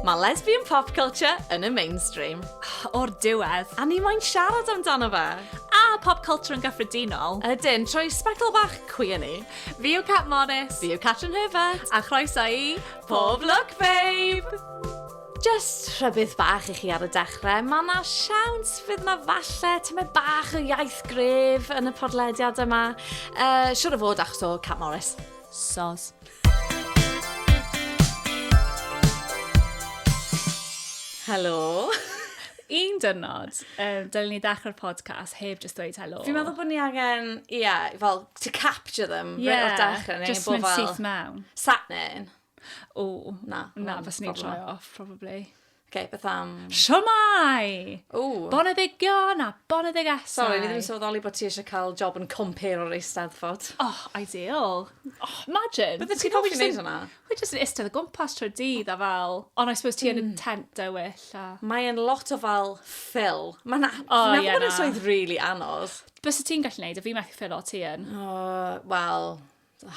Mae lesbian pop culture yn y mainstream. O'r diwedd, a ni moyn siarad amdano fe. A pop culture yn gyffredinol. Ydyn, trwy sbectol bach cwi yn ni. Fi yw Cat Morris. Fi yw Catrin Herbert. A chroeso i Pob Look Babe! Jyst rhybudd bach i chi ar y dechrau, mae yna siawns fydd yna falle tymed bach o iaith gref yn y podlediad yma. Uh, siwr o fod achos o Cat Morris. Sos. Helo. Un dynod, um, dylen ni ddechrau'r podcast heb just dweud helo. Fi'n meddwl bod ni angen, ia, yeah, fel, to capture them, yeah, o'r dechrau. Just mynd syth mewn. Sat nyn. O, na. Na, fes ni'n troi off, probably. Oce, okay, beth am... Siomai! O! Boneddigion a boneddigesau. Sorry, ni ddim yn sylweddoli bod ti eisiau cael job yn compare o'r eisteddfod. Oh, ideal. Oh, imagine. Bydde ti'n hoffi wneud hwnna? Wy jyst yn istedd y gwmpas trwy dydd a fel... Ond I suppose ti yn y hmm. tent dywyll a... Mae'n lot o fel ffil. Mae'n... na. O, ie, na. Mae'n swydd really anodd. Bysa ti'n gallu neud, a fi methu ffil o ti yn. O, wel...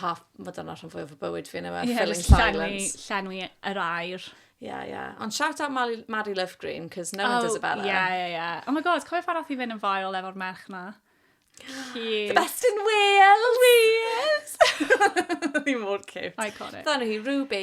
Ha, mae dyna rhan fwyaf o bywyd fi yn yma, yeah, filling silence. Llenwi, llenwi yr air. Yeah, yeah. Ond shout out Mary, Mary Love Green, cos no oh, one does it better. Yeah, yeah, yeah. Oh my god, cofio pan oedd i fynd yn fael efo'r merch na? Cute. The best in Wales! Wales! Fi mor cute. Iconic. Dyna hi, Ruby.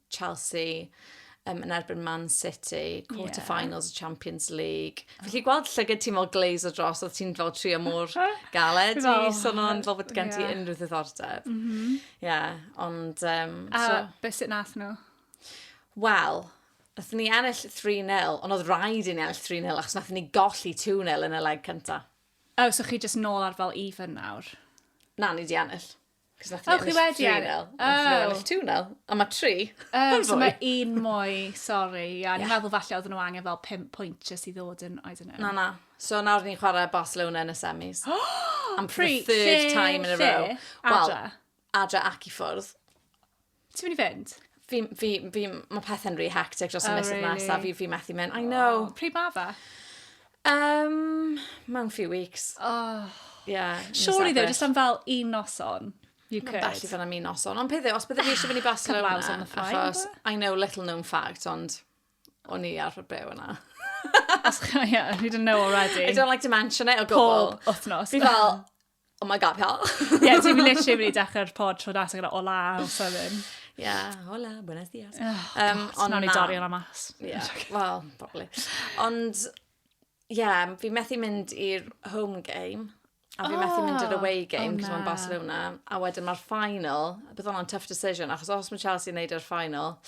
Chelsea um, yn erbyn Man City, quarter-finals yeah. Champions League. Oh. Felly gweld llygyd ti mor gleis o dros, oedd ti'n fel trio mor galed i son o'n fel bod gen ti yeah. unrhyw ddiddordeb. Mm -hmm. yeah, ond... Um, A so... beth sy'n nath nhw? Wel, nath ni ennill 3-0, ond oedd rhaid i ni ennill 3-0 achos nath ni golli 2-0 yn y leg cyntaf. O, oh, so chi jyst nôl ar fel even nawr? Na, ni di ennill. Cos nath ni ennill tri nawr. Oh, chi wedi? Ond nhw ennill two nawr. A mae tri. Oh, so mae un mwy, sorry. Ie, yeah, yeah. meddwl falle oedden nhw angen fel pimp pwynt jyst i ddod yn, I don't know. Na, na. So nawr ni'n chwarae Barcelona yn y semis. Am the third time in a row. Well, adra ac i ffwrdd. Ti'n mynd i fynd? Fi, fi, fi, mae pethau'n rhy hectic dros y oh, misoedd really? nesaf. Fi, fi methu mynd. I know. Oh, pryd ma fe? Um, mewn few weeks. Oh. Yeah, Surely though, just am fel un noson. You could. Mae'n bell i fel am un noson. Ond pethau, os bydde fi eisiau fynd i Barcelona, achos, I know little known fact, ond o'n i arfer byw yna. As, yeah, you didn't know already. I don't like to mention it o gwbl. Pob wythnos. Fi fel, Oh my god, hell. Ie, yeah, ti'n literally mynd i dechrau'r pod tro das gyda ola o sydyn. Ie, yeah, hola, buenos dias. Oh, um, God, nawn ni dorri hwnna mas. Ie, yeah, well, probably. Ond, ie, yeah, fi methu mynd i'r home game. A fi oh, methu mynd i'r oh, away game, oh, cos mae'n Barcelona. A wedyn mae'r final, bydd o'n tough decision, achos os mae Chelsea yn neud i'r final,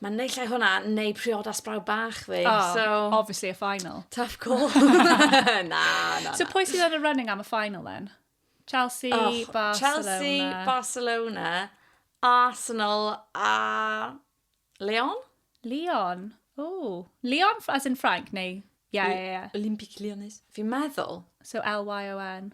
Mae naill ai hwnna, neu priodas brawd bach fi. Oh, so... obviously a final. Tough call. na, na, na. So pwy sydd yn y running am y final then? Chelsea, oh, Barcelona. Chelsea, Barcelona, Arsenal a Leon? Leon. Oh. Leon as in Frank neu? Ie, ie, ie. Olympic Lyonnes. Fi'n meddwl. So L-Y-O-N.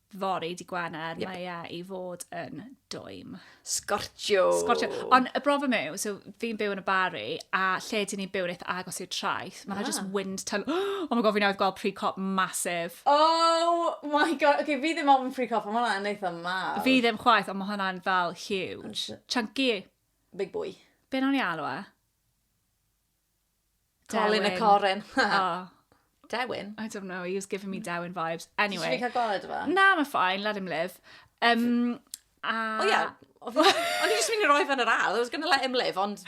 fory di Gwener, yep. mae e i fod yn dwym. Scortio! Scortio. Ond y broblem yw, so fi'n byw yn y Barri, a lle dyn ni'n byw yn eitha agos i'r traeth, mae'n ah. just wind tunnel. Oh my god, fi'n awyd gweld pre-cop masif. Oh my god, okay, fi ddim ofyn pre-cop, ond mae hwnna'n eitha mawr. Fi ddim chwaith, ond mae hwnna'n fel huge. Chunky. Big boy. Be nawn ni alw e? Colin a Corin. oh. Dewin? I don't know, he was giving me Dewin vibes. Anyway. Ti'n fi cael gweld efo? Na, mae ffain, let him live. Um, a... O ia, o'n i jyst mynd i roi fan yr ail, I was going to let him live, ond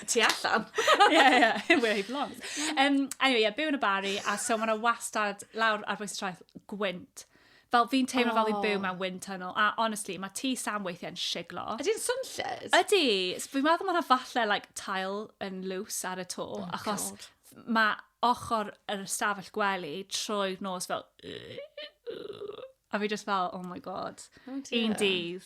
ti allan. yeah, yeah, where he belongs. Um, anyway, yeah, byw yn y bari, a so mae'n wastad lawr ar bwys traeth gwynt. Fel fi'n teimlo oh. fel fi'n byw mewn wind tunnel. A honestly, mae ti Sam weithiau'n siglo. Ydy'n swnllyd? Ydy. Fi'n meddwl mae'n falle like, tail yn lws ar y to. Oh achos mae ochr yr ystafell gwely trwy'r nos fel... A fi just fel, oh my god. Oh un dydd.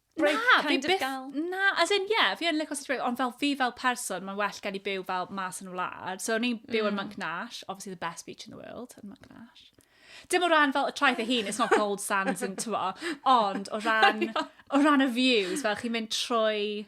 break na, kind of gal. Na, as in, yeah, fi yn licio city break, ond fel fi fel person, mae'n well gen i byw fel mas yn y wlad. So, o'n i'n byw mm. yn Monk Nash, obviously the best beach in the world, yn Monk Nash. Dim o ran fel y traeth ei hun, it's not gold sands yn tyfo, ond o ran, o ran y views, fel chi'n mynd trwy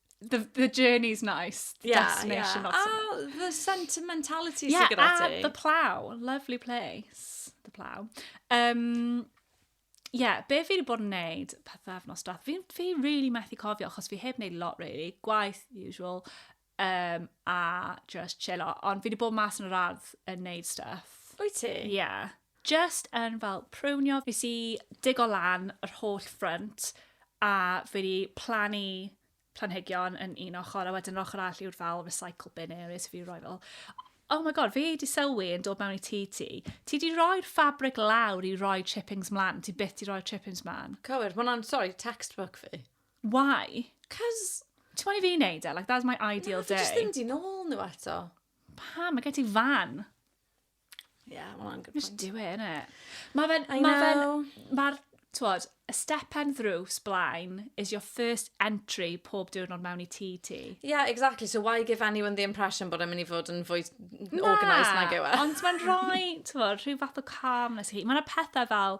the, the journey's nice, the yeah, destination yeah. not so ah, much. the sentimentality yeah, sy'n gyda ti. the plow, lovely place, the plow. Um, yeah, be fi wedi bod yn neud pethau efnos dath, fi, fi really methu cofio, achos fi heb neud lot really, gwaith usual, um, a just chillo, ond fi wedi bod mas yn yr ardd yn neud stuff. Wyt ti? Yeah. Jyst yn fel prunio fi sy digo lan yr holl ffrynt a fi di plannu planhigion yn un ochr a wedyn yr ochr all yw'r fel recycle bin area so fi roi fel Oh my god, fi di sylwi yn dod mewn i tŷ ti. Ti di roi'r fabric lawr i roi chippings mlan. Ti byth di roi'r chippings mlan. Cywir, mae hwnna'n, sorry, textbook fi. Why? Cos... Ti'n moyn i fi wneud e? Like, that's my ideal day. Na, fi jyst ddim di nôl nhw eto. Pam? Mae gen ti fan. Yeah, well, I'm good Just point. do it, innit? Mae fe'n... I Mae fe'n... know. Mae'r, twod, y stepen ddrws blaen is your first entry pob diwrnod mewn i tŷ ti. Yeah, exactly. So why give anyone the impression bod e'n mynd i fod yn fwy organised nag yw e? Ond mae'n rhoi, twod, rhyw fath o calmness i chi. Mae yna pethau fel,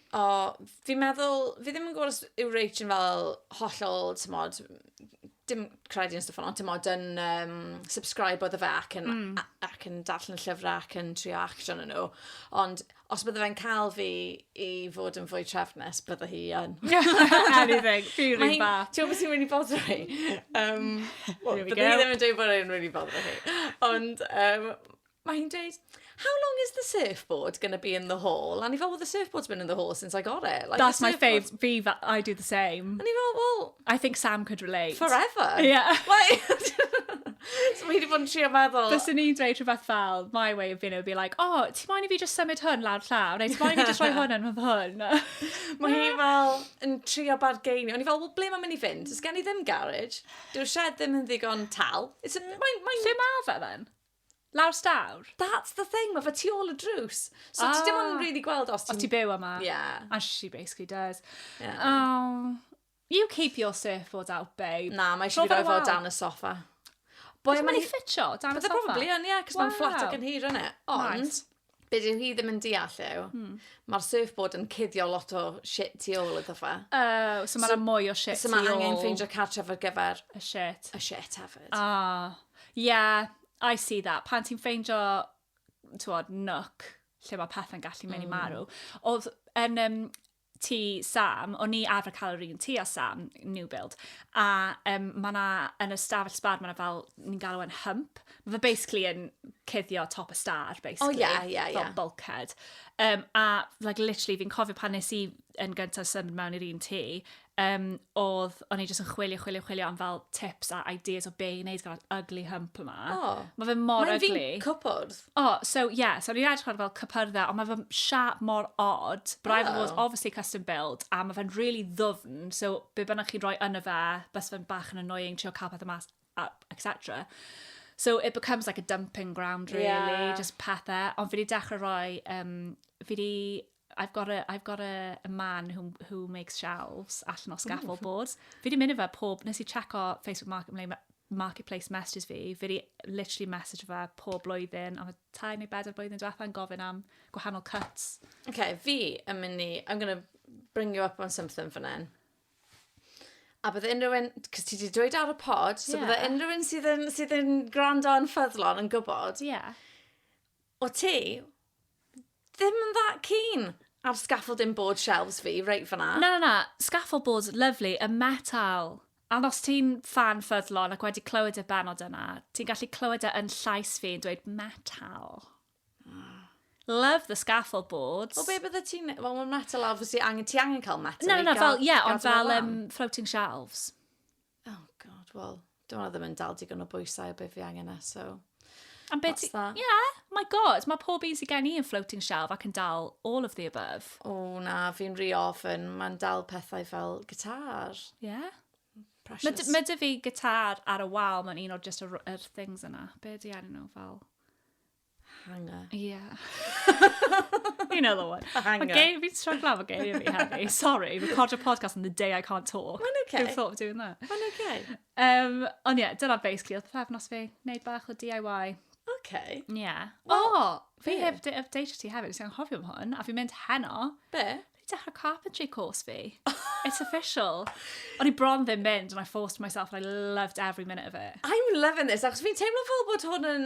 O, fi'n meddwl, fi ddim yn gwybod os yw Rach yn fel hollol, tymod, dim credu yn stwff ond tymod, yn um, subscribe oedd y fe ac yn, mm. ac yn darllen y llyfrau ac yn trio action yn nhw. Ond os bydde fe'n cael fi i fod yn fwy trefnus, bydde hi yn. Anything, fi'n rhywun ba. Ti'n gwybod sy'n really bodro hi? Um, well, bydde hi ddim yn dweud bod e'n really bodro hi. Ond um, mae hi'n dweud, how long is the surfboard going to be in the hall? And he felt, well, the surfboard's been in the hall since I got it. Like, That's my fave. Fi, I do the same. And he felt, well... I think Sam could relate. Forever. Yeah. Like, so mae hi wedi bod yn trio meddwl... Bys yn i'n dweud rhywbeth fel, my way of being it would be like, oh, ti moyn i fi just symud hwn lawr llaw? Neu ti moyn i fi just rhoi hwn yn hwn? mae hi fel yn trio bargeinio. Ond i fel, well, ble mae'n mynd i fynd? Ys gen i ddim garage. Dyw'r shed ddim yn ddigon tal. Mae'n... Lle mae fe then? Lawr stawr? That's the thing, mae fe tu ôl y drws. So ah. ti dim ond yn ah. really gweld os ti'n... Os ti'n byw yma? Yeah. And she basically does. Yeah. Oh, you keep your surfboard out, babe. Na, mae eisiau fi roi fo dan y soffa. Boi mae'n ei ffitio dan y soffa? Bydde probably yn, ie, cos mae'n fflat ac yn hir yn e. Ond, Be' dyw hi ddim yn deall yw... Hmm. ...ma'r surfboard yn cuddio lot o shit tu ôl iddo fe. Oh so ma' 'na mwy o shit tu ôl. So ma' angen ffeindio cartref ar gyfer... Y shit. ...y shit hefyd. Ah. Yeah, I see that. Pan ti'n ffeindio t'wod nook lle ma' pethe'n gallu mynd i marw. Hmm. O'dd yn yym tŷ Sam, o'n i arfer cael yr un tŷ a Sam, new build, a um, mae yna, yn y stafell sbar, mae yna fel, ni'n galw e'n hump, mae fe basically yn cuddio top y star, basically. O, oh, ie, yeah, ie, yeah, ie. Yeah. Fel bulkhead. Um, a, like, literally, fi'n cofio pan nes i yn gyntaf symud mewn i'r un tŷ, um, oedd, o'n i jyst yn chwilio, chwilio, chwilio am fel tips a ideas o be i wneud gyda'r ugly hump yma. Oh. Mae fe mor Mae'n ugly. Mae'n fi'n cwpwrdd. O, so ie, so o'n i'n edrych ar fel cypyrdda, ond mae fy siap mor odd. But I've always oh. obviously custom build, a mae fe'n really ddwfn, so be bynnag chi'n rhoi yna fe, bys fe'n bach yn annoying, trio cael pethau mas, etc. So it becomes like a dumping ground, really, yeah. just pethau. Ond fi wedi dechrau rhoi, um, fi wedi I've got a, I've got a, a man who, who makes shelves allan o scaffold Ooh. boards. Fi di mynd i fe pob, nes i checo Facebook Market, Marketplace messages fi, fi di literally message fe pob blwyddyn, ond tai neu bedair blwyddyn diwetha yn gofyn am gwahanol cuts. Okay, fi yn mynd i, I'm gonna bring you up on something fan hyn. A bydde unrhyw un, cos ti wedi dweud ar y pod, so yeah. bydde unrhyw un sydd yn, sydd yn gwrando yn ffyddlon yn gwybod. Yeah. O ti, Ddim yn that keen ar scaffolding board shelves fi reit fan'na. Na na na, scaffold boards lyfli, y metal. Ond os ti'n ffan ffyddlon ac wedi clywed y bennod yna, ti'n gallu clywed e yn llais fi yn dweud metal. Love the scaffold boards. Wel be bydde ti'n... Wel mae'n metal obviously angen... Ti angen cael metal i gael... Na na na fel ie ond fel um, floating shelves. Oh god, wel, dwi'n meddwl ddim yn dal digon o bwysau o beth fi angen e, so... Am beth ti... Yeah, my god, mae pob un sy'n gen i yn floating shelf ac yn dal all of the above. O oh, na, fi'n rhi ofyn, mae'n dal pethau fel gitar. Yeah. Precious. Mae dy fi gitar ar y wal, mae'n un o'r just yr, yr things yna. Be di enw nhw fel? Hanger. Ie. You know the one. A hanger. Mae geir, fi'n stryglo am y geir fi hefyd. Sorry, record a podcast on the day I can't talk. Mae'n okay. Who thought of doing that? Mae'n okay. Um, ond ie, yeah, dyna basically oedd pefnos fi. Neud bach o DIY. Okay. Ie. Yeah. O, well, oh, fi yeah. heb update ti hefyd, sy'n anghofio am hwn, a fi'n mynd heno. Be? Fi dechrau carpentry course fi. It's official. O'n i bron ddim mynd, and I forced myself, and I loved every minute of it. I'm loving this, achos fi'n teimlo fel bod hwn yn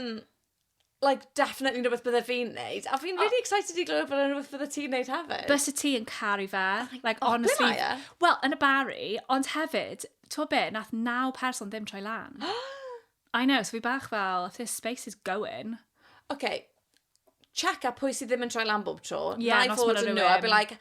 like, definitely rhywbeth bydde fi'n neud. A fi'n oh. really excited i glywed bod yn rhywbeth bydde ti'n neud hefyd. Bys y ti yn caru fe. Oh like, oh, honestly. Ble mae e? Wel, yn y bari, ond hefyd, ti'n be, nath naw person ddim troi lan. I know, so fi bach fel, if this space is going. Okay, check up pwy sydd ddim yn troi lan bob tro. Yeah, Na i fod yn nhw, I'd be like,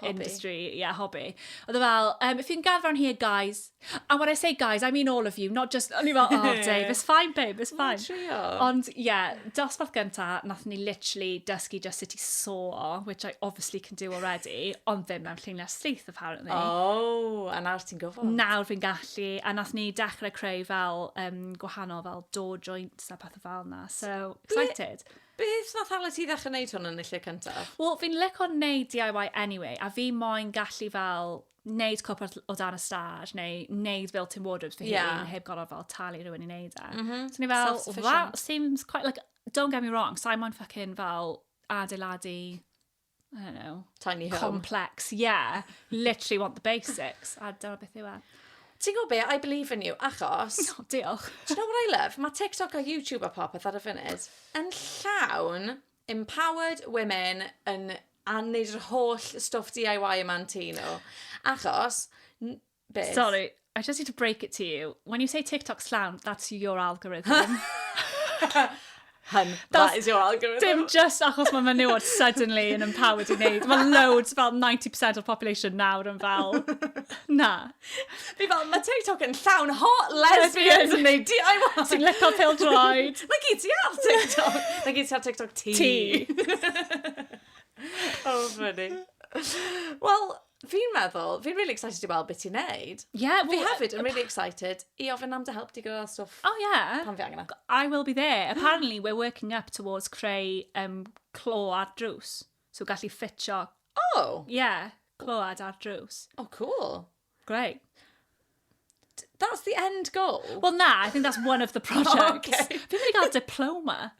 Hobby. industry, yeah, hobby. Oedd e fel, um, if you can gather on here, guys. And when I say guys, I mean all of you, not just... O'n i fel, oh, Dave, it's fine, babe, it's fine. Trio. Ond, ie, yeah, dosbarth gynta, nath ni literally dysgu just sut i saw, which I obviously can do already, ond ddim mewn lluniau slith, apparently. Oh, a nawr ti'n gwybod. Nawr fi'n gallu, a nath ni dechrau creu fel um, gwahanol fel door joints a pethau fel na. So, excited. Beth nath hala ti ddechre neud hwn yn y lle cyntaf? Wel fi'n lico neud DIY anyway a fi moyn gallu fel neud cwpl o ll- o dan y stad neu neud built-in wardrobes fy hun... Ie. ...heb gor'o' fel talu rywun i neud e. M-hm. So o'n i fel... Self-sufficient. ...that seems quite like don't get me wrong sai moyn ffycin fel adeiladu I don't know. Tiny home. Complex, yeah. Literally want the basics. A dyna beth yw e. Ti'n gwybod be? I believe in you, achos... No, diolch. Do you know what I love? Mae TikTok a YouTube a popeth ar y funud yn llawn empowered women yn a wneud yr holl stwff DIY yma'n tŷ nhw. Achos, Beth? Sorry, I just need to break it to you. When you say TikTok slam, that's your algorithm. Hun, that is your algorithm. Dim just achos mae menywod suddenly yn empowered i wneud. Mae loads, fel 90% o'r population nawr yn fel, na. Fi fel, mae TikTok yn llawn hot lesbians yn neud DIY. Sy'n licio pil droed. Mae gyd ti ar TikTok. Mae gyd ti ar TikTok ti. Ti. oh, funny. Wel, Fi'n meddwl, fi'n really excited i weld beth ti'n neud. Yeah, well, fi hefyd yn really excited i ofyn am dy help di gyda stwff. Oh yeah. Pan fi angen e. I will be there. Apparently we're working up towards creu um, clo ar drws. So gallu ffitio... Oh! Yeah, cload ar drws. Oh, cool. Great. That's the end goal. Well, na, I think that's one of the projects. Oh, okay. Fi'n mynd i gael diploma.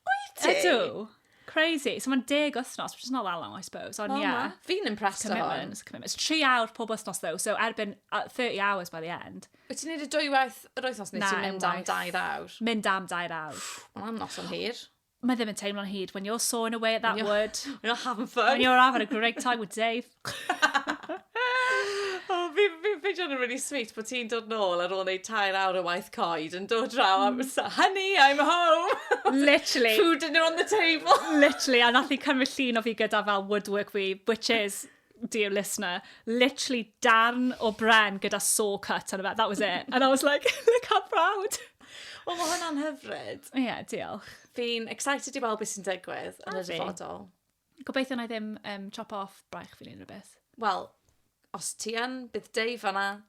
Wyt ti? Ydw. Crazy. So mae'n deg wythnos, which is not that long, I suppose. Ond, well, yeah. Fi'n impressed o hon. Commitments. Tri awr pob wythnos, though. So erbyn 30 hours by the end. Wyt ti'n neud y dwy waith yr wythnos neu ti'n mynd am dair awr? Mynd am dair awr. Mae'n anodd o'n hir. Mae ddim yn teimlo'n hyd. When you're sawing away at that you're, wood. When you're having fun. When you're having a great time with Dave. oh, fi'n fi, fi yn really sweet bod ti'n dod nôl ar ôl neud tair awr o waith coed yn dod draw am mm. honey, I'm home. Literally. Food dinner on the table. Literally, a nath i cymryd llun o fi gyda fel woodwork fi, which is dear listener, literally darn o bren gyda saw cut on about. That was it. And I was like, look how proud. O, mae hwnna'n hyfryd. Ie, yeah, diolch. Fi'n excited i weld beth sy'n digwydd yn y dyfodol. Gobeithio na i ddim um, chop off braich fi'n un rhywbeth. Wel, os ti yn, bydd Dave fanna.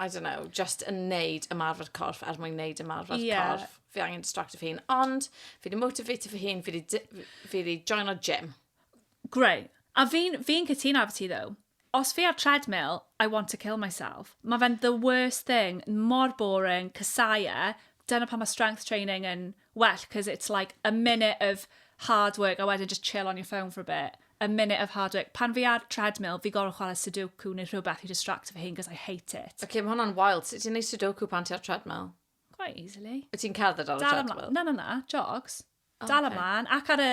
I don't know, just yn neud ymarfer corff er mwyn neud ymarfer Ie. corff. Fi angen distracto fy hun. Ond, fi wedi motivato fy hun, fi wedi di- fi wedi joino gym. Greu. A fi'n fi cytuno efo ti, ddo. Os fi ar treadmill, I want to kill myself. Mae fe'n the worst thing, mor boring, casau e. Dyna pan mae strength training yn well cos it's like a minute of hard work a wedyn just chill on your phone for a bit, a minute of hard work. Pan fi ar treadmill, fi gorfod chwarae sudoku neu rhywbeth i distract fy hun cos I hate it. Ok, mae hwnna'n wild. Sut ti'n neud sudoku pan ti ar treadmill? Quite easily. Wyt ti'n cerdded ar y treadmill? Na, na, na, jogs. Dal ymlaen, ac ar y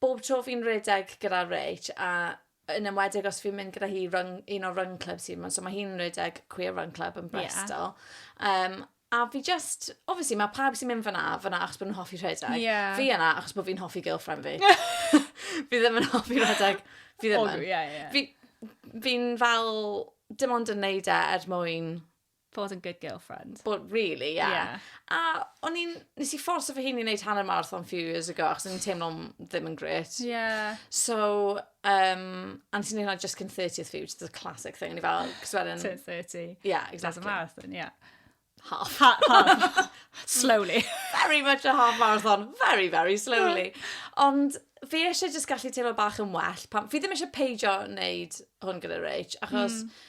Bob tro fi'n rhedeg gyda Rach a yn enwedig os fi'n mynd gyda hi run, un o'r run clubs sy'n mynd, so mae hi'n rhedeg Queer Run Club yn Bristol. Yeah. Um, a fi just, obviously mae pawb sy'n mynd fyna, fyna achos bod nhw'n hoffi rhedeg. Yeah. Fi yna achos bod fi'n hoffi girlfriend fi. fi ddim yn hoffi rhedeg. Fi ddim yn. Oh, yeah, yeah. Fi, fi'n fel, dim ond yn neud e er mwyn Bod yn good girlfriend. Bod, really, yeah. yeah. A o'n i'n, nes i fforso fy hun i wneud hanner marathon few years ago, achos o'n i'n teimlo'n ddim yn gret. Yeah. So, um, a nes i'n neud hwnna just cyn 30th few, just a classic thing. O'n i fel, cos wedyn... Cyn 30. Yeah, exactly. That's a marathon, yeah. Half. Ha half. slowly. very much a half marathon, very, very slowly. Ond fi eisiau just gallu teimlo bach yn well. Pam, fi ddim eisiau peidio wneud hwn gyda Rach, achos... Mm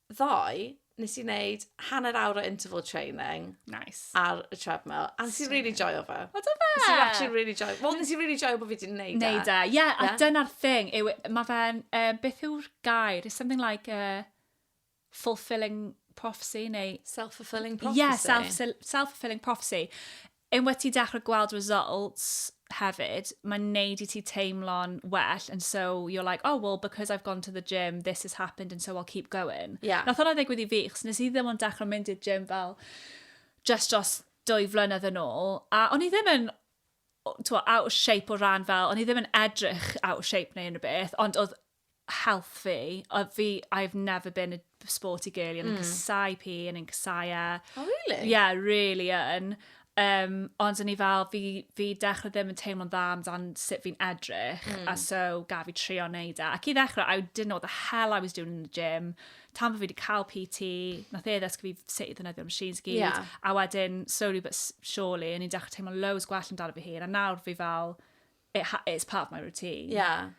ddoe, nes i wneud hanner awr o interval training. Nice. Ar y treadmill. A nes i really joio fe. O, do fe? Nes i actually really joio. Wel, nes i really joio bod fi wedi wneud e. Neud e. Ie, yeah, a dyna'r thing. Yw, mae fe'n, uh, beth yw'r gair? It's something like a uh, fulfilling prophecy neu... Self-fulfilling prophecy. Yeah, self-fulfilling self prophecy. Unwaith ti'n dechrau gweld results hefyd, mae'n neud i ti teimlo'n well and so you're like, oh well because I've gone to the gym this has happened and so I'll keep going. Yeah. Nath hwnna ddigwydd i fi, chos nes i ddim ond dechrau mynd i'r gym fel just dros dwy flynedd yn ôl, a o'n i ddim yn o- t'mo' out of shape o ran fel, o'n i ddim yn edrych out of shape neu unrhyw beth, ond oedd health fi, o, fi, I've never been a sporty girl, yn mm. casau pi, yn casau e. Oh, really? Yeah, really yn. Um, ond o'n i fel, fi, fi dechrau ddim yn teimlo'n dda amdan sut fi'n edrych, mm. a hmm. so gaf fi trio wneud e. Ac i ddechrau, I didn't know what the hell I was doing in the gym. Tan fi wedi cael PT, nath e ddysgu fi sut i ddynyddio machines gyd, yeah. a wedyn, slowly but surely, o'n i'n dechrau teimlo'n loads gwell amdano fi hun, a nawr fi fel, it, it's part of my routine. Yeah.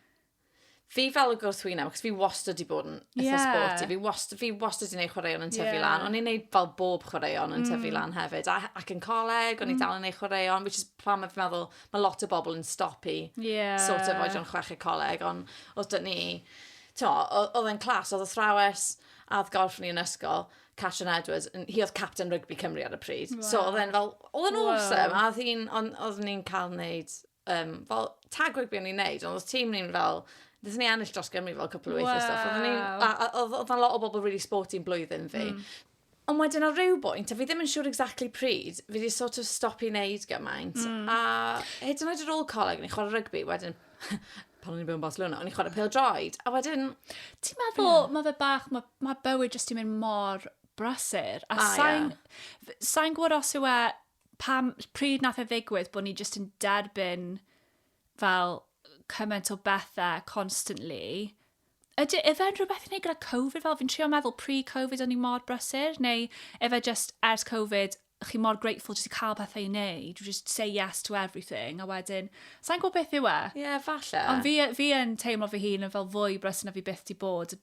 Fi fel y gwrthwyneb, achos fi wastad wedi bod yn eitha yeah. sporty. Fi wastad, fi wastad wedi gwneud chwaraeon yn tyfu yeah. lan. O'n i'n gwneud fel bob chwaraeon yn mm. tyfu lan hefyd. A, ac yn coleg, o'n mm. i dal yn gwneud chwaraeon, which is plan mae'n meddwl, mae lot o bobl yn stopu yeah. sort of oedran chweched coleg. Ond os dyn ni, oedd e'n clas, oedd athrawes add golf ni yn ysgol, Catrin Edwards, hi oedd captain rygbi Cymru ar y pryd. Wow. So oedd e'n fel, oedd e'n wow. awesome. A oedd hi'n, oedd ni'n cael wneud um, fel tag rygbi o'n i'n neud, ond oedd tîm ni'n fel, Dys ni ennill dros Gymru fel cwpl o weithiau stuff. Oedd yna lot o bobl really sporting blwyddyn fi. Mm. Ond wedyn ar ryw bwynt, a fi ddim yn siŵr exactly pryd, fi wedi sort of stop i wneud gymaint. Mm. A hyd yn oed ar ôl coleg, ni'n chwarae rygbi, wedyn pan o'n i'n byw yn Barcelona, o'n i'n chwarae pêl droed. A wedyn... Ti'n meddwl, yeah. mae fe bach, mae ma bywyd jyst i'n mynd mor brasur. A, a sain, yeah. sain gwybod os yw e pam, pryd nath e ddigwydd bod ni jyst yn derbyn fel cymaint o bethau constantly. Ydy, efe'n rhywbeth i wneud gyda Covid fel? Fi'n trio meddwl pre-Covid o'n i mor brysur, neu efe just ers Covid chi mor grateful jyst i cael pethau i wneud, you just say yes to everything, a wedyn, sa'n gwybod beth yw e? Ie, yeah, falle. Ond fi, fi yn teimlo fy hun yn fel fwy brysur na fi byth di bod,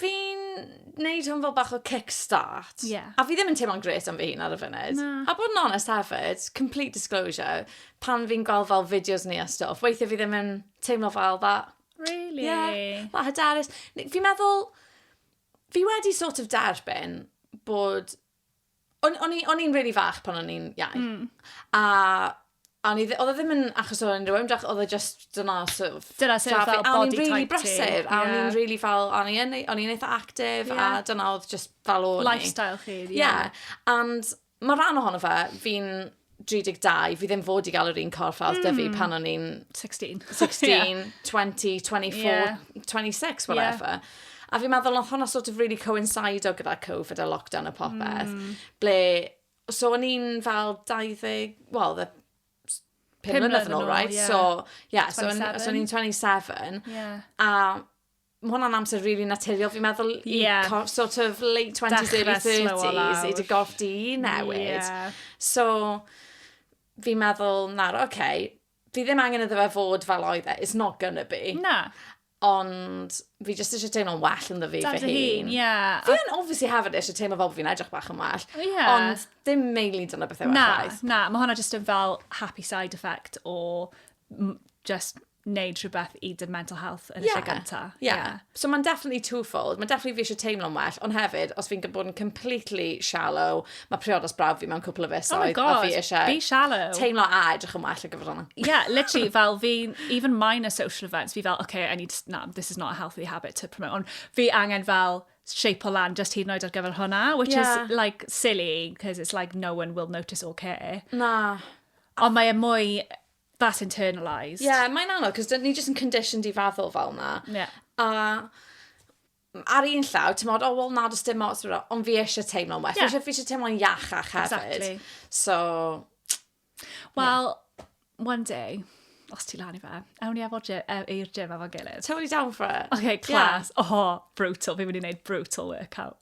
fi'n neud hwn fel bach o kickstart. Ie. Yeah. A fi ddim yn teimlo'n gret am fy hun ar y funud. Na. A bod yn honest hefyd, complete disclosure, pan fi'n gweld fel fideos ni a stwff, weithiau fi ddim yn teimlo fel that. Really? Yeah, that hyderus. Fi'n meddwl, fi wedi sort of derbyn bod O'n i'n really fach pan o'n i'n iau. Mm. A A oedd e ddim yn achos o'n rhywun drach, oedd e just dyna sort of... Dyna sort of fel body type ti. A o'n i'n really brysur, a o'n i'n really fel, o'n i'n o'n i'n eitha active, yeah. a dyna oedd just fel o'n i. Lifestyle chi, ie. Yeah. yeah. And mae rhan ohono fe, fi'n 32, fi ddim fod i gael yr un corff a oedd mm. dyfu pan o'n i'n... 16. 16, yeah. 20, 24, yeah. 26, whatever. Yeah. A fi'n meddwl, oedd hwnna sort of really coincido gyda Covid a lockdown a popeth, mm. ble, so o'n i'n fel 20, well, the pum mlynedd yn ôl, right? Yeah. So, yeah, 27. so, so o'n i'n 27, yeah. a Mae hwnna'n amser really naturiol, fi'n meddwl, i yeah. sort of late 20s, early 30s, i dy gorff di newid. Yeah. So, fi'n meddwl, na'r, oce, okay, fi ddim angen iddo fe fod fel oedd e, it's not gonna be. Na. Ond fi jyst eisiau teimlo'n well yn ddyfu fy hun. Ie. Yeah. Fi yn obviously hefyd eisiau teimlo fel bod fi'n edrych bach yn well. Ie. Yeah. Ond dim meili dyna beth yw e. Na, na, mae hwnna jyst yn fel happy side effect o just wneud rhywbeth i dy mental health yn y yeah, lle gynta. Yeah. yeah. So mae'n definitely twofold. Mae'n definitely fi eisiau teimlo'n well, ond hefyd, os fi'n bod yn completely shallow, mae priodas braf fi mewn cwpl o fisoedd. Oh my god, fi eisiau be shallow. Teimlo a edrych yn well o gyfer hwnna. Yeah, literally, fel fi, even minor social events, fi fel, okay, I need, to, no, this is not a healthy habit to promote. Ond fi angen fel, shape o lan just hyd yn oed ar gyfer hwnna, which yeah. is like silly, because it's like no one will notice or care. Na. Ond mae e mwy That's internalised. Ie, mae'n anodd, cos ni jyst yn conditioned i feddwl fel na. Ie. A ar un llaw, ti'n meddwl, oh, well, na, does dim ots, ond fi eisiau teimlo'n well. Yeah. Fi eisiau, fi eisiau teimlo'n iachach hefyd. Exactly. So... Wel, yeah. one day, os ti lan i fe, ewn ni efo i'r gym efo'n gilydd. Totally down for it. Okay, class. Yeah. Oh, brutal. Fi'n mynd i wneud brutal workout.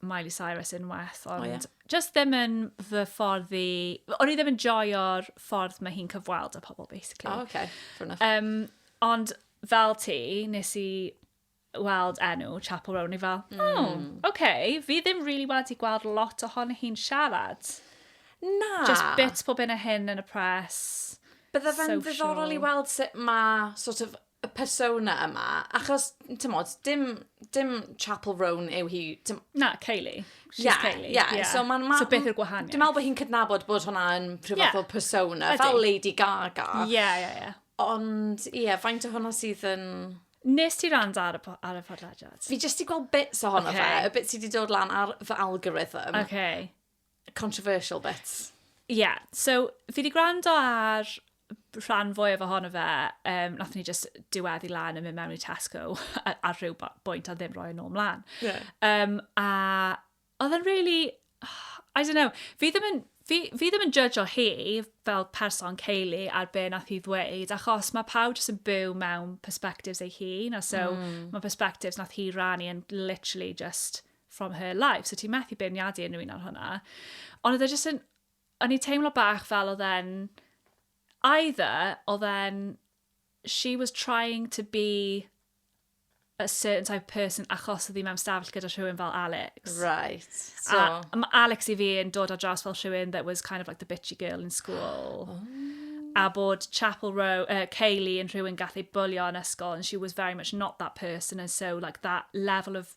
Miley Cyrus unwaith, ond oh, yeah. just ddim yn fy ffordd i... O'n i ddim yn joio'r ffordd mae hi'n cyfweld â pobl, basically. Oh, okay. Fair enough. Um, ond fel ti, nes i weld enw Chapel Roan, i fel, mm. oh, hmm. okay, fi ddim really wedi gweld lot ohono hi'n siarad. Na. Just bits pob un o hyn yn y press. Bydde fe'n ddiddorol i weld sut mae sort of y persona yma, achos, tymod, dim, dim Chapel Roan yw hi. Dim... Na, Kaylee. She's yeah, Kaylee. Yeah. yeah. So, ma, ma, so beth yw'r gwahaniaeth? Dwi'n meddwl bod hi'n cydnabod bod hwnna yn rhyw yeah. fath o persona, Ydy. fel Lady Gaga. Ie, yeah, ie, yeah, ie. Yeah. Ond, ie, yeah, faint o hwnna sydd yn... Nes ti rand ar y, ar y podlediad? Fi jyst i gweld bits o hwnna okay. fe, y bits sydd wedi dod lan ar fy algorithm. Okay. controversial bits. Ie, yeah, so fi wedi gwrando ar rhan fwyaf ohono fe, um, nath ni just diweddu lan yn mynd mewn i Tesco ar, ar rhyw bwynt a ddim roi yn ôl mlaen. Yeah. Um, a oedd yn really, I don't know, fi ddim yn, fi, fi ddim yn judge o hi fel person Kaylee ar be nath hi ddweud, achos mae pawb jyst yn byw mewn perspectives ei hun, a so mm. mae perspectives nath hi rannu yn literally just from her life, so ti'n methu beirniadu unrhyw un ar hwnna. Ond oedd e jyst yn, o'n i teimlo bach fel oedd e'n, either oedd e'n, she was trying to be a certain type of person achos oedd hi mewn stafell gyda rhywun fel Alex. Right. So. A mae Alex i fi yn dod ar draws fel rhywun that was kind of like the bitchy girl in school. Oh. A bod Chapel Row, uh, Kaylee yn rhywun gath ei bwlio yn ysgol and she was very much not that person and so like that level of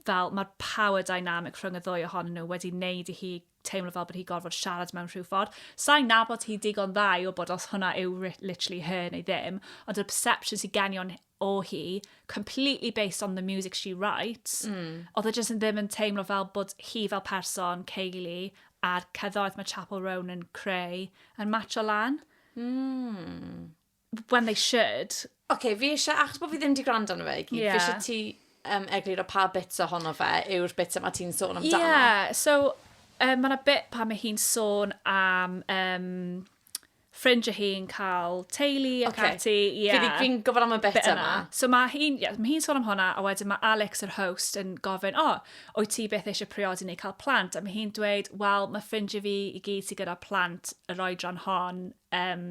fel mae'r power dynamic rhwng y ddwy ohonyn nhw wedi wneud i hi teimlo fel bod hi gorfod siarad mewn rhyw ffordd. Sa'n nabod hi digon dda i wybod os hwnna yw literally her neu ddim, ond y perception sy'n genion o hi, completely based on the music she writes, mm. oedd e jyst yn ddim yn teimlo fel bod hi fel person, Kaylee, a'r ceddoedd mae Chapel Roan yn creu, yn match o lan. Mm. when they should. Oce, fi isie, achos bod fi ddim wedi gwrando arno fe i gyd, fi isie ti um, egluro pa bits ohono fe yw'r bits yma ti'n sôn amdano. Ie, yeah, so um, mae yna bit pa mae hi'n sôn am um, ffrindiau hi'n cael teulu ac okay. ati. Yeah. Fi fi'n gofod am y bit, bit yma. So mae hi'n yeah, mae hi sôn am hwnna, a wedyn mae Alex, yr host, yn gofyn, o, oh, wyt ti beth eisiau priodi neu cael plant? A mae hi'n dweud, wel, mae ffrindiau fi i gyd sy'n gyda plant yr oedran hon um,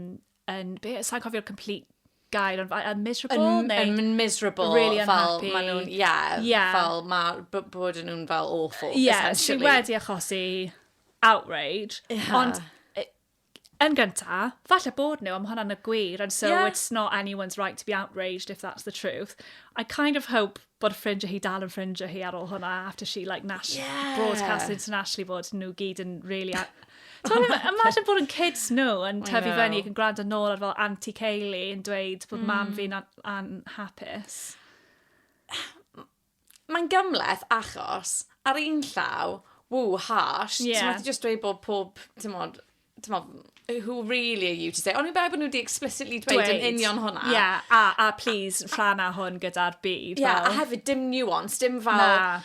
yn, be, sa'n cofio'r complete gair, ond yn miserable? Yn, neu, yn miserable, really fel ma nhw'n, yeah, yeah. fel ma, bod nhw'n fel awful, yeah, essentially. Yeah, wedi achosi outrage, yeah. ond yn gynta, falle bod nhw, am hwnna'n y gwir, and so yeah. it's not anyone's right to be outraged if that's the truth. I kind of hope bod ffrindiau hi dal yn ffrindiau hi ar ôl hwnna, after she like nash yeah. broadcast internationally bod nhw gyd yn really... Imagine bod yn kids nhw yn tyfu fyny ac yn gwrando nôl ar fel Auntie Kaylee yn dweud bod mm. mam fi'n anhapus. Mae'n gymleth achos ar un llaw, ww, harsh, yeah. ti'n meddwl just dweud bod pob, ti'n meddwl, t'mod, who really are you to say? Ond fi'n meddwl bod nhw wedi explicitly dweud yn union hwnna. Ie, yeah, a, a please, rhan a hwn gyda'r byd. Ie, yeah, a hefyd dim nuance, dim fel... Na.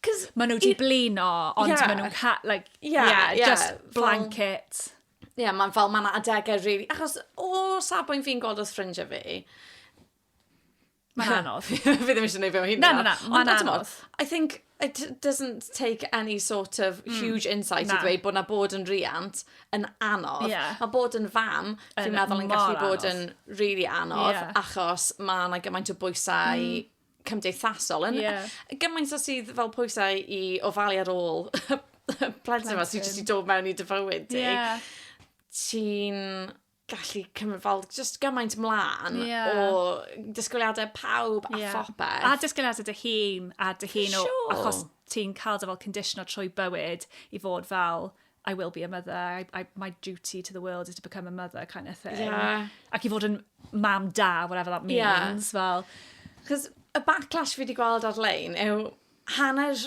Cos... Maen nhw wedi blino, ond yeah. maen nhw'n... Like, yeah, yeah, yeah, just blanket. Fel, Ie, yeah, mae'n fel, mae'n adegau rili... Really, achos o safbwynt fi'n gweld os ffrindiau fi, Mae'n anodd. Fi ddim eisiau gwneud fe o hyn. Na, na, na. Mae'n anodd. I think it doesn't take any sort of hmm. huge insight mm, i ddweud bod na bod yn riant yn anodd. Yeah. Mae bod yn fam, fi'n meddwl yn gallu bod yn really anodd, yeah. achos mae yna gymaint o bwysau mm cymdeithasol. Yn, yeah. Gymaint o sydd fel pwysau i ofalu ar ôl plentyn yma sy'n jyst i dod mewn i dy fywyd di. Yeah. Ti'n gallu cymryd fel just gymaint mlaen yeah. o disgwyliadau pawb a yeah. phopeth. A disgwyliadau dy hun a dy hun o sure. achos ti'n cael dy fel condition o trwy bywyd i fod fel I will be a mother, I, I, my duty to the world is to become a mother kind of thing. Yeah. Ac i fod yn mam da, whatever that means, yeah. fel. Cos y backlash fi wedi gweld ar-lein yw hanner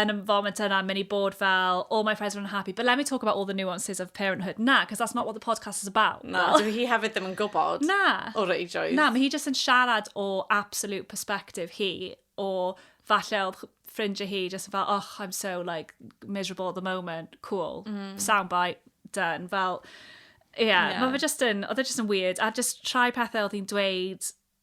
yn y foment yna, mynd i bod fel, all my friends are unhappy, but let me talk about all the nuances of parenthood. Na, because that's not what the podcast is about. Na, dwi hi hefyd ddim yn gwybod na. o reidrwydd. Na, mae hi jyst yn siarad o absolute perspective hi, o falle oedd ffrindiau hi jyst yn fel, oh, I'm so like miserable at the moment, cool, mm. soundbite, done. Fel, yeah, yeah. mae fe jyst yn, oedd e jyst yn weird, a jyst trai pethau oedd hi'n dweud,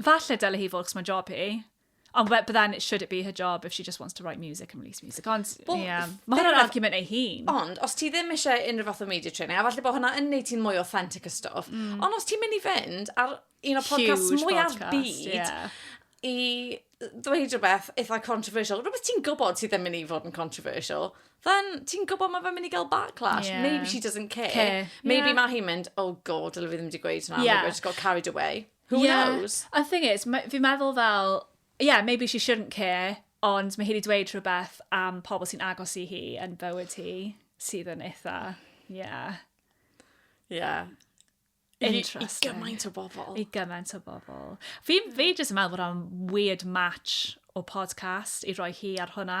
Falle dyle hi fod, chos mae'n job hi. Ond but then, should it be her job if she just wants to write music and release music? Ond, well, yeah. Mae hwnna'n argument ei hun. Ond, os ti ddim eisiau unrhyw fath o media training, a falle bod hwnna yn neud ti'n mwy authentic y stwff, mm. ond os ti'n mynd i fynd ar un o podcast mwy ar byd, yeah. i ddweud rhywbeth eitha controversial, rhywbeth ti'n gwybod sydd ddim yn ei fod yn controversial, then ti'n gwybod mae fe'n mynd i gael backlash. Yeah. Maybe she doesn't care. care. Maybe yeah. mae hi'n mynd, oh god, dylai fi ddim wedi gweud hwnna, yeah. I've just got carried away. Who yeah. knows? A thing is, fi'n meddwl fel, yeah, maybe she shouldn't care, ond mae hi wedi dweud rhywbeth am pobl sy'n agos i hi yn bywyd hi, sydd yn eitha, yeah. Yeah. Interesting. I, I gymaint o bobl. I gymaint o bobl. Fi, fi jyst yn meddwl bod o'n weird match o podcast i roi hi ar hwnna,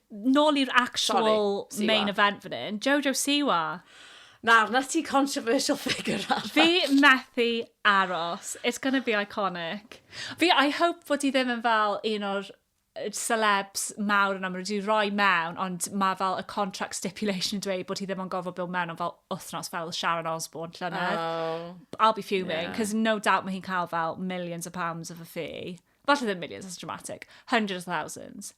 Nôl i'r actual main event fan hyn, Jojo Siwa. Nawr, na ti controversial figure arall. Fi methu aros. It's going to be iconic. Fi, I hope fod ti ddim yn fel un o'r celebs mawr yn amrwyd i roi mewn, ond mae fel y contract stipulation yn dweud bod ti ddim yn gofod byw mewn am fel wythnos fel Sharon Osbourne llynedd. Oh. I'll be fuming, because yeah. no doubt mae hi'n cael fel millions of pounds of a fee. Falle ddim millions, that's dramatic. Hundreds of thousands.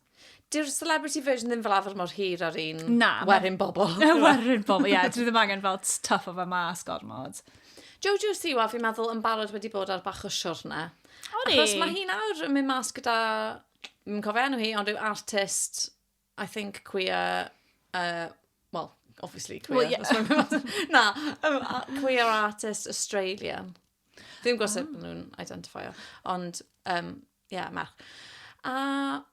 Dyw'r celebrity version ddim fel arfer mor hir ar un Na, ma- werin bobl. Werin bobl, ie. Dwi ddim angen fel tuff o fe mas gormod. Jojo Siwa, fi'n meddwl, yn barod wedi bod ar bach o siwrne. O'n i? Achos mae hi nawr yn mynd mas gyda... Mi'n cofio enw hi, ond rhyw artist I think queer uh, well, obviously queer. Well, yeah. Na, um, queer artist Australian. Dwi'n gwybod sut ah. nhw'n identifio, ond, um, yeah, merch. A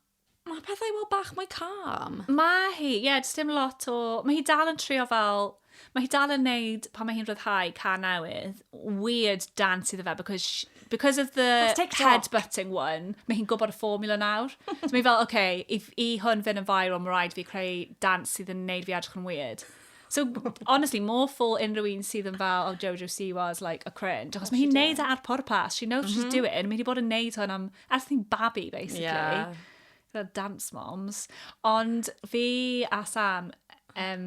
mae pethau wel bach mwy calm. Mae hi, ie, yeah, dim lot o... Mae hi dal yn trio fel Mae hi dal yn neud, pan mae hi'n rhyddhau ca newydd, weird dance iddo fe, because, she, because of the headbutting one, mae hi'n gwybod y formula nawr. so mae fel, oce, okay, i, i hwn fynd yn viral, mae rhaid fi creu dance sydd yn neud fi edrych yn weird. So, honestly, more for unrhyw un sydd yn fel, oh, Jojo C was like a cringe. Achos mae hi'n neud e ar pwrpas. She knows mm -hmm. she's mhm. doing. Mae hi'n bod yn neud hwn am, ers ni'n babi, basically. Yeah. Fel dance moms. Ond fi a Sam, um,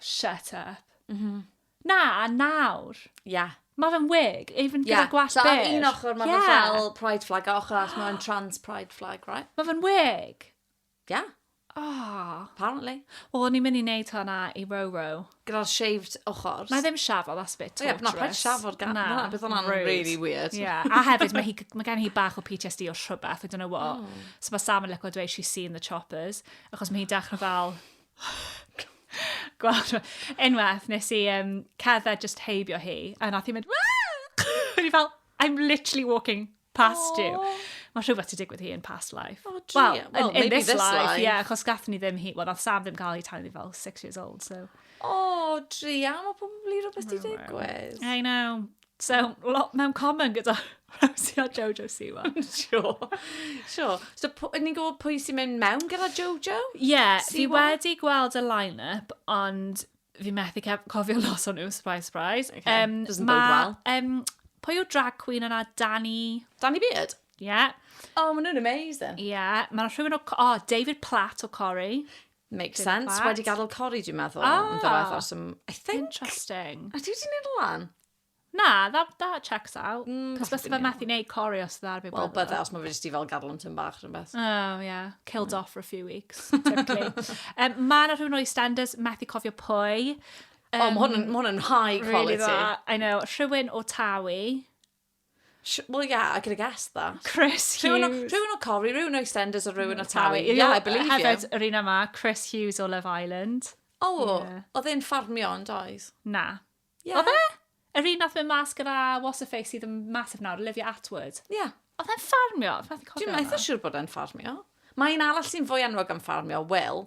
Shut up. Mhm. Na, nawr. Ia. Mae fe'n wig, even gyda gwallt byr. Ie, so ar un ochr mae fe fel pride flag, a ochr arall mae fe'n trans pride flag, right? Mae fe'n wig. Ie. Yeah. Oh. Apparently. Wel, o'n i'n mynd i wneud hwnna i Roro. Gyda'r shaved ochr. Na ddim shafo, that's a bit torturous. Ie, na paid shafo'r gan. Na, bydd hwnna'n really weird. Ie, a hefyd mae, hi, mae gen hi bach o PTSD o rhywbeth, I don't know what. Oh. So mae Sam yn lyco dweud she's seen the choppers, achos mae hi'n dechrau fel Gweld rhywbeth. Unwaith wnes i yym, cerdded jyst heibio hi, a wnaeth hi mynd Waw! O'n i fel, I'm literally walking past you. Mae rhywbeth 'di digwydd hi in past life. O druan. Wel, yn... Wel, maybe this life. ...in this life, ie, achos gaethon ni ddim hi... Wel, wnaeth Sam ddim cael hi tan o'n i fel six years old, so... O druan, mae probably rhywbeth 'di digwydd. I know. Sef lot mewn common gyda Rosie a Jojo Siwa. Sio. Sio. So, ni'n gwybod pwy sy'n mynd mewn gyda Jojo? Ie, yeah, fi wedi gweld y line-up, ond fi methu cofio los o'n nhw, surprise, surprise. Okay. Um, Doesn't ma, bode well. Um, pwy yw drag queen yna? Danny... Danny Beard? Ie. Yeah. Oh, maen nhw'n amazing. Ie. Yeah. Mae rhywun o... Oh, David Platt o Corey. Makes sense. Wedi gadael cori, dwi'n meddwl. Ah! Yn ddiwedd, os ym... I think. Interesting. A ti wedi neud lan? Na, that, that checks out. Mm, Cos bys fe methu neud cori os ydw ar fi Wel, bydde, os mae fe jyst i fel gadw yn tyn bach rhywbeth. Oh, yeah. Killed mm. off for a few weeks, typically. um, mae yna rhywun o'i standards, methu cofio pwy. Um, o, mae hwn yn high quality. Really I know. Rhywun o Tawi. Sh- Well, yeah, I could have guessed that. Chris Rhywun o, Hughes. rhywun o Corrie, rhywun o EastEnders a rhywun o Tawi. Ie, Yeah, I believe you. Hefyd, yr un yma, Chris Hughes o Love Island. O, Ie. oedd e'n ffarmio yn doedd? Na. Ie. Oedd e? Yr un nath mynd mas gyda What's Her Face sydd yn massive nawr, Olivia Atwood. Ie. Oedd e'n ffarmio? Dwi'n methu siŵr bod e'n ffarmio. Mae un arall sy'n fwy enwog am ffarmio, Will.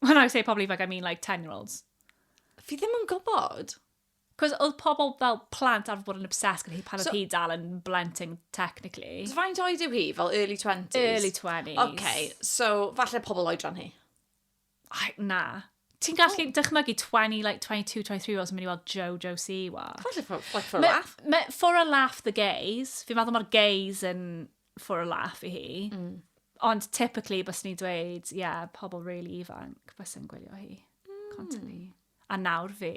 When I say pobl ifanc, I mean like 10 year olds. Fi ddim yn gwybod. Cos oedd pobl fel plant arfer bod yn obsessed gyda hi pan oedd So- hi dal yn blentyn, technically. So faint oed yw hi? Fel early 20s? Early 20s. Okay, so falle pobl oedran hi. Ai, na. Ti'n gallu dychmygu 20, like 22, 23 year olds yn mynd i weld Jojo Siwa. Falle for, like for a Ma- laugh. ma- for a laugh the gays. Fi'n meddwl mae'r gays yn for a laugh i hi. Mm. Ond typically, bys ni dweud, ie, yeah, pobl really ifanc, bys yn gwylio hi. Mm. Constantly. A nawr fi.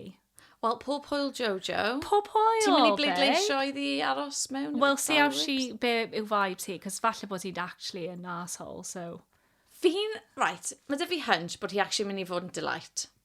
Wel, pob hwyl Jojo. Pob hwyl, Ti'n mynd i bleidleisio i ddi aros mewn? Wel, see how she, be yw vibe ti, cos falle bod ti'n actually an asshole, so... Fi'n, right, mae dy fi hunch bod hi actually mynd i fod yn delight.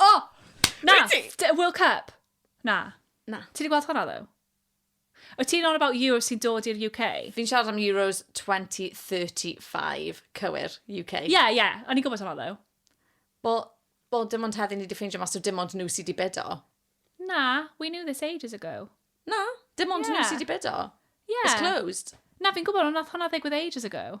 O! Na! Wyt ti? D- World Cup. Na. Na. Ti wedi gweld hwnna, ddo? Wyt ti'n on about Euros sy'n dod i'r UK? Fi'n siarad am Euros 2035, cywir, UK. Ie, yeah, ie. Yeah. O'n i'n gwybod hwnna, ddo. Bo, bo, dim ond heddi ni wedi ffeindio mas o dim ond nhw sydd wedi bedo. Na, we knew this ages ago. Na, dim ond yeah. nhw sydd wedi bedo. Yeah. It's closed. Na, fi'n gwybod, ond nath hwnna ddigwydd ages ago.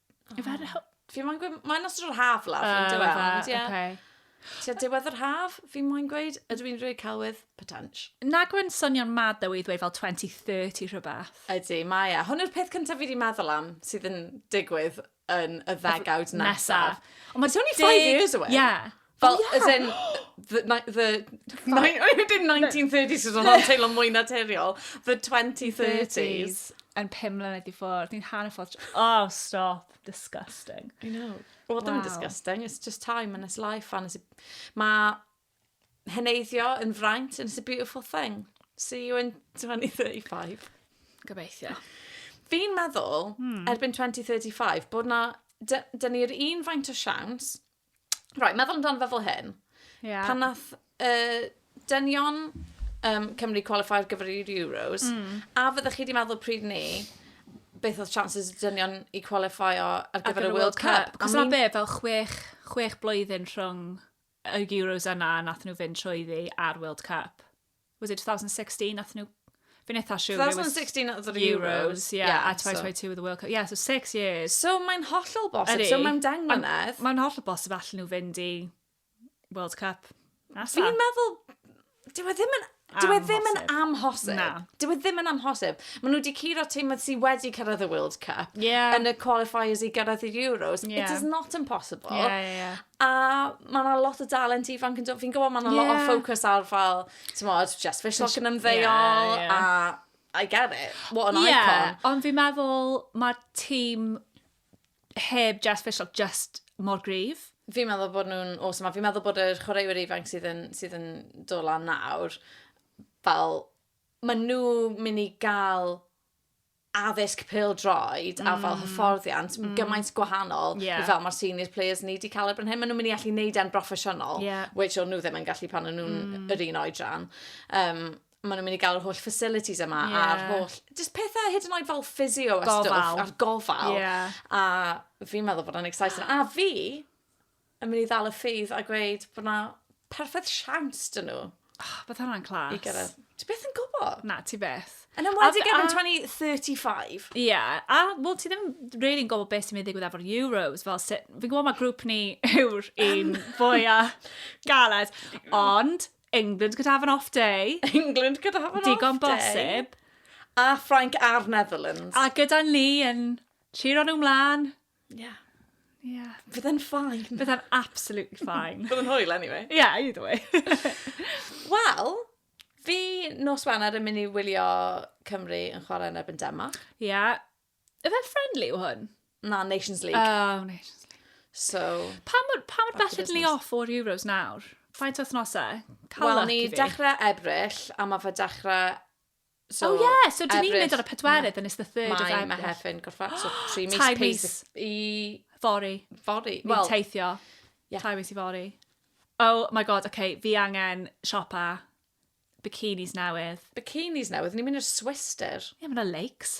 Yw fe ar y... Fi moyn gweud... Mae'n ystod yr haf lawr, yn dweud. O, ife? Ie. Oce. Tua diwedd yr haf, fi moyn gweud. Ydw i'n rhoi celwydd? Potensh. Nag yw'n swnio'n mad ddo i ddweud fel 2030 rhywbeth? Ydy, mae e. Hwn yw'r peth cyntaf fi wedi meddwl am sydd yn digwydd yn y ddegawd nesaf. Ond mae... It's only five years away. Ie. Fel, oh, yeah. as in, the, the, the, dim 1930s oedd o'n teimlo mwy naturiol, the 2030s. Yn pum mlynedd i ffwrdd, ni'n hanner ffordd, oh, stop, disgusting. I know. Wel, ddim disgusting, it's just time and it's life, and it's... Mae heneiddio yn fraint, and it's a beautiful thing. See you in 2035. Gobeithio. Fi'n meddwl, hmm. erbyn 2035, bod na... Dyna'r un faint o siawns Right, meddwl amdano fe fel hyn. Yeah. Pan nath uh, dynion um, Cymru qualify ar gyfer i'r Euros, mm. a fyddwch chi wedi meddwl pryd ni, beth oedd chances y dynion i qualify ar gyfer y World Cup? Cos yna be, fel chwech, chwech blwyddyn rhwng y Euros yna nath nhw fynd trwy ddi a'r World Cup. was it 2016 nath nhw Fi'n eitha siwr. 2016 oedd yr Euros, yeah, yeah, a 2022 oedd y World Cup. Yeah, so six years. So mae'n hollol bosib, so mae'n deng mlynedd. Mae'n hollol bosib allan nhw fynd i World Cup. Fi'n meddwl, dyw e ddim yn Dyw e ddim yn amhosib. Na. Dyw e ddim yn amhosib. Maen nhw wedi curo tîm sydd wedi cyrraedd y World Cup yeah. yn y qualifiers i gyrraedd i'r Euros. Yeah. It is not impossible. Yeah, yeah, yeah. A mae yna lot o dalent ifanc yn dod. Fi'n gwybod mae yna yeah. lot o ffocws ar fel, ti'n modd, Jess Fishlock yn ymddeol, yeah, yeah. a I get it. What an yeah, icon. Ond fi'n meddwl mae'r tîm heb Jess Fishlock just mor grif. Fi'n meddwl bod nhw'n awesome. Fi'n meddwl bod yr chwaraewyr ifanc sydd yn, sydd yn dod lan nawr, fel, maen nhw mynd i gael addysg pêl-droed a fel mm. hyfforddiant mm. gymaint gwahanol yeah. fel mae'r senior players ni wedi cael erbyn hyn. Maen nhw'n mynd i allu neud e'n broffesiynol, yeah. which o'n nhw ddim yn gallu pan o'n nhw'n mm. yr un oedran. Um, maen nhw'n mynd i gael yr holl facilities yma yeah. a'r holl... Just pethau hyd yn oed fel physio a stwff a'r gofal. Yeah. A fi'n meddwl bod yn exciting. A fi, yn mynd i ddal y ffydd a gweud bod na perffaith siawns dyn nhw. Oh, ah, bydd hwnna'n clas. I gyrraedd. Ti beth yn gwybod? Na, ti beth. Yn ymwedig efo'n 2035. Ie, yeah. a wel, ti ddim really yn gwybod beth sy'n mynd i ddigwydd efo'r Euros. Fel, fi'n gwybod mae grŵp ni yw'r un fwya galed, ond England could have an off day. England could have an Digon off day. Digon bosib. A Frank a'r Netherlands. A gyda ni yn lliro nhw mlaen. Ie. Ie. Bydde'n fine. Bydde'n absolutely fine. Bydde'n hwyl anyway. Ie, yeah, either way. Wel, fi nos Wener yn mynd i wylio Cymru yn chwarae yn erbyn Denmark. Ie. Yeah. Efe friendly yw hwn? Na, Nations League. Oh, Nations League. So... Pa mor, pa mor bell ydyn ni off o'r Euros nawr? Faint o thnosau? Wel, ni dechrau Ebrill, a mae fe dechrau So, oh yeah, so dyn ni'n mynd ar y pedwerydd and it's the third of Ebrill. Mae Mehefin gorffan, so tri mis. Tai mis. I... Fori. Fori. Well, Fi'n teithio. Yeah. Tai mis i fori. Oh my god, oce, okay, fi angen siopa bikinis newydd. Bikinis newydd? Ni'n mynd i'r Swister? Ie, yeah, mae'n lakes.